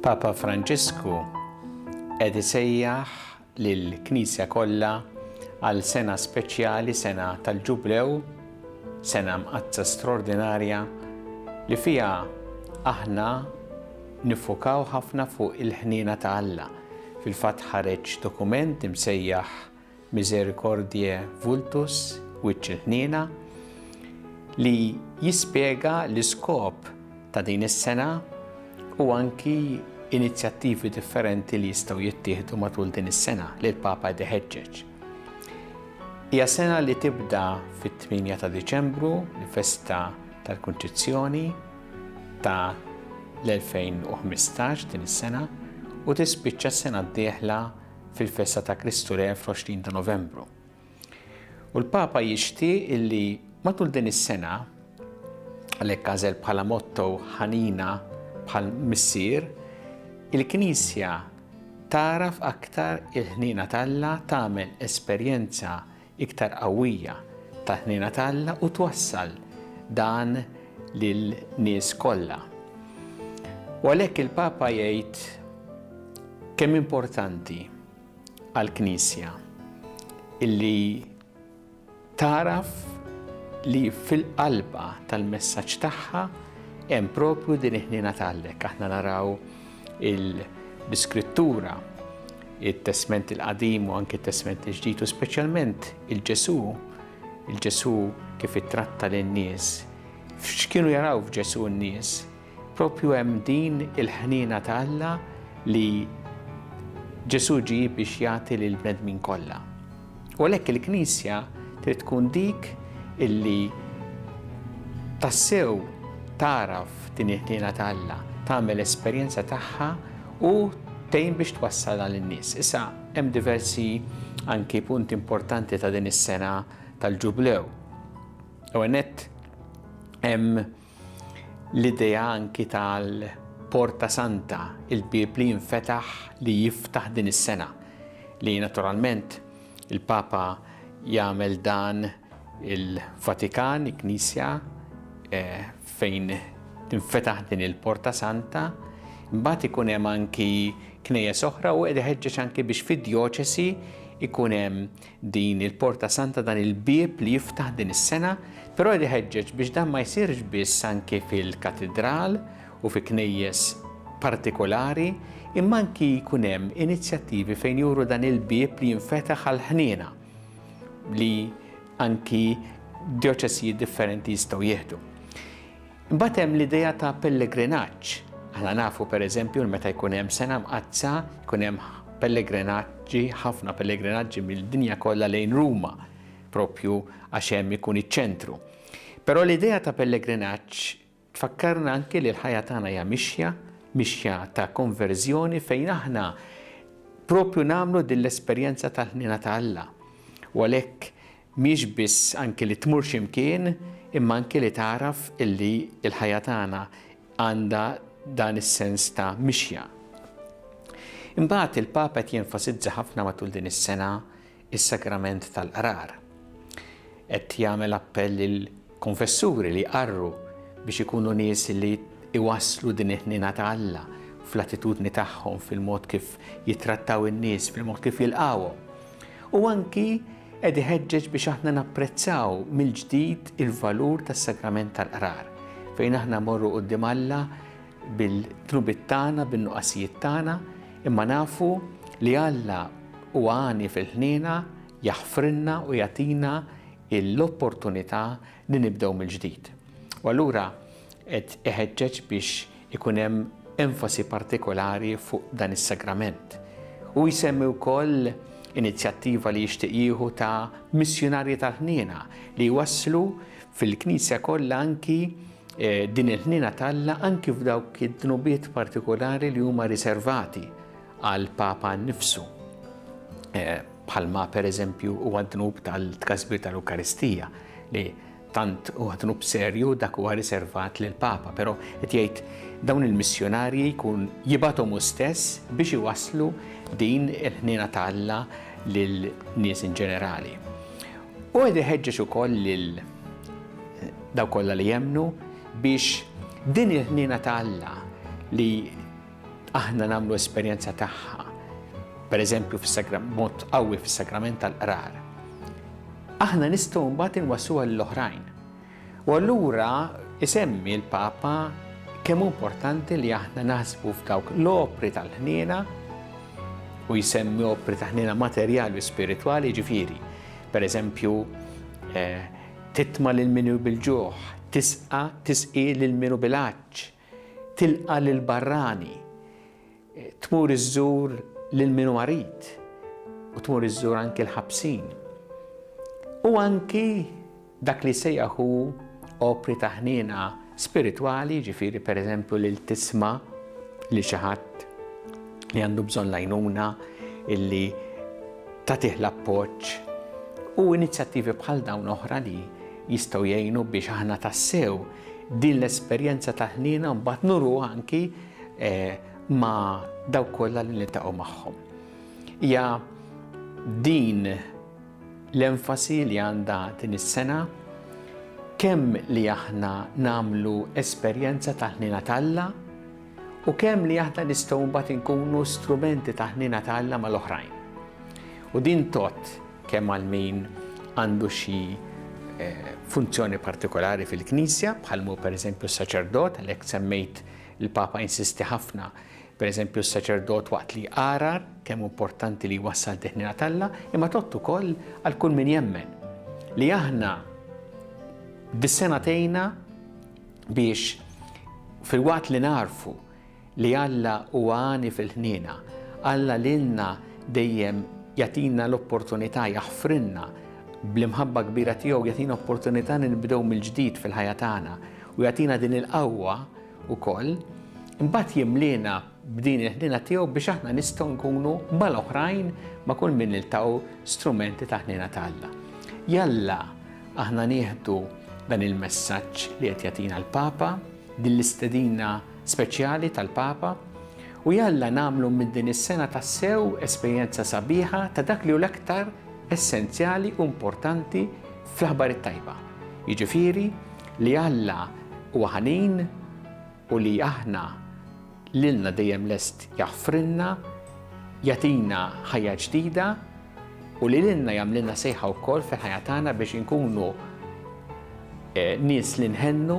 Papa Franġisku qed isejjaħ lill-Knisja kollha għal sena speċjali, sena tal-Ġublew, Sena Mqaddsa straordinarja li fiha aħna niffokaw ħafna fuq il-ħniena ta' Alla. Fil-fatt ħareġ dokument imsejjaħ Misericordiae Vultus, Wiċċ il-Ħniena, li jispjega l-iskop ta' din is-sena u anki inizjattivi differenti li jistgħu jittieħdu matul din is-sena li l-Papa qed iħeġġeġ. Hija sena li tibda fit-8 ta' Diċembru, l-festa tal-Kunċizzjoni ta' l-2015 din is-sena u tispiċċa s-sena d-dieħla fil-festa ta' Kristu Re fl-20 ta' Novembru. U l-Papa jixtieq illi matul din is-sena għalhekk għażel bħala motto ħanina bħal missier il-Knisja Tagħraf aktar il-ħniena t'Alla tagħmel esperjenza iktar qawwija tal-ħniena t'Alla u twassal dan lin-nies kollha. U għalhekk il-Papa jgħid kemm importanti għall-Knisja illi Tagħraf li fil-qalba tal-messaġġ tagħha hemm propju din il-ħniena ta' Allek. Aħna naraw l-Iskrittura, it-Testment il-Qadim u anke t-Testment il-Ġdid u speċjalment il-Ġesu, il-Ġesu kif ittratta lin-nies. X'kienu jaraw f'Ġesu n-nies? Proprju hemm din il-ħniena ta' Alla li Ġesù ġie biex jagħti lill-bnedmin kollha. U għalhekk il-Knisja trid tkun dik illi tassew tagħraf din il-ħniena ta' Alla, tagħmel esperjenza tagħha u tgħin biex twassal għal in-nies. Issa hemm diversi anki punti importanti ta' din is-sena tal-Ġublew. U għenet hemm L-idea anki tal-Porta Santa, il-bieb li jinfetaħ li jiftaħ din is-sena, li naturalment il-Papa jagħmel dan il-Vatikan, il-Knisja, fejn tinfetaħ din il-Porta Santa, imbagħad ikun hemm anki knejjes oħra u qed iħeġġeġ anki biex fid-djoċesi jkun hemm Din il-Porta Santa dan il-bieb li jiftaħ din is-sena, però jrid iħeġġeġ biex dan ma jsirx biss anki fil-Katidral u fi knejjes partikolari, imma anki jkun hemm inizjattivi fejn juru dan il-bieb li jinfetaħ għall-ħniena li anki djoċesijiet differenti jistgħu jieħdu. Imbagħad hemm l-idea ta' pellegrinaġġ. Aħna nafu pereżempju li meta jkun hemm sena mqaddsa, jkun hemm pellegrinaġġi, ħafna pellegrinaġġi mill-dinja kollha lejn Ruma, propju għax hemm ikun iċ-ċentru. Però l-idea ta' pellegrinaġġ tfakkarna anke li l-ħajja tagħna hija mixja, mixja ta' konverżjoni fejn aħna propju nagħmlu din l-esperjenza tal-ħnina ta' Alla. U għalhekk Mhiex biss anki li tmur xi mkien, imma anki li tagħraf illi l-ħajja tagħna għandha dan is-sens ta' mixja. Imbagħad il-Papa qed jenfasizza ħafna matul din is-sena s-Sagrament tal-Qrar. Qed jagħmel appell lil Konfessuri li jqarru biex ikunu nies li jwasslu din il-ħniena ta' Alla fl-attitudni tagħhom, fil-mod kif jittrattaw in-nies, fil-mod kif jilqgħuhom. U anki qed iħeġġeġ biex aħna napprezzaw mill-ġdid il-valur tas-Sagrament tal-Qrar, fejn aħna mmorru quddiem Alla bil-dnubiet tagħna, bin-nuqqasijiet tagħna, imma nafu li Alla huwa għani fil-ħniena, jaħfrilna u jagħtina hi l-opportunità li nibdew mill-ġdid. U allura qed iħeġġeġ biex ikun hemm enfasi partikolari fuq dan is-sagrament. Hu jsemmi wkoll inizjattiva li jixtieq jieħu ta' missjunarji tal-ħniena li jwasslu fil-Knisja kollha anki din il-ħniena t'Alla anki f'dawk id-dnubiet partikolari li huma riservati għall-Papa nnifsu, bħalma pereżempju huwa d-dnub tal-tkasbir tal-Ewkaristija, li tant huwa dnub serju dak huwa riservat lill-Papa, però qed jgħid dawn il-missjunarji jkun jibgħathom hu stess biex iwasslu din il-ħniena ta' Alla lil nies in ġenerali. U qed iħeġġeġ ukoll lil daw kollha li jemmnu biex din il-ħniena ta' Alla li Aħna nagħmlu esperjenza tagħha, pereżempju fis-mod qawwi fis-sagrament tal-qrar. Aħna nistgħu mbagħad inwassuha lil oħrajn. U allura isemmi l-Papa kemm hu importanti li aħna naħsbu f'dawk l-opri tal-ħniena u jsemmi opri ta' ħniena materjali u spiritwali ġifieri. Pereżempju, eh, titma lil minu bil-ġuħ, tisqa tisqi lil minu bil-għaġġ, Tilqa' lill-barrani, tmur iżżur lil min hu marid u tmur iżżur anki l-ħabsin. U anki dak li jsejjaħ hu opri ta' ħniena spiritwali, jiġifieri pereżempju lil tisma' lil xi ħadd li għandu bżonn l-għajnuna illi tagħtih l-appoġġ u inizjattivi bħal dawn oħra li jistgħu jgħinu biex aħna tassew Din l-esperjenza ta' ħniena mbagħad nuruha anki ma' dawk kollha li niltaqgħu magħhom. Hija din l-enfasi li għandha din is-sena kemm li aħna nagħmlu esperjenza ta' ħniena t'Alla u kemm li aħna nistgħu mbagħad inkunu strumenti ta' ħniena t'Alla mal-oħrajn. U din tot kemm għal min għandu xi funzjoni partikolari fil-Knisja, bħal mu pereżempju s-saċerdot, għalhekk semmejt il-Papa insisti ħafna pereżempju s-saċerdot waqt li jqarar kemm importanti li jwassal teħnina talla, imma tott ukoll għal kull min jemmen li aħna dis-sena tejna biex fil-waqt li narfu Li Alla huwa għani fil-ħniena. Alla lilna dejjem jagħtina l-opportunità, jaħfrilna, bl-imħabba kbira tiegħu jagħtina opportunità li nibdew mill-ġdid fil-ħajja tagħna u jagħtina din il-qawwa wkoll. Imbagħad jimliena b'din il-ħniena tiegħu biex aħna nistgħu nkunu mal-oħrajn ma' kull min niltaqgħu strumenti ta' ħniena ta' Alla. Jalla aħna nieħdu dan il-messaġġ li qed jagħtina l-Papa, din l-istedina speċjali tal-Papa u jalla nagħmlu minn din is-sena tassew esperjenza sabiħa ta' dak li hu l-aktar essenzjali u importanti fl-aħbar it-tajba, jiġifieri li Alla huwa ħanin u li aħna lilna dejjem lest jaħfrilna, jagħtina ħajja ġdida u li lilna jagħmlilna sejħa wkoll fil-ħajja tagħna biex inkunu nies li nħennu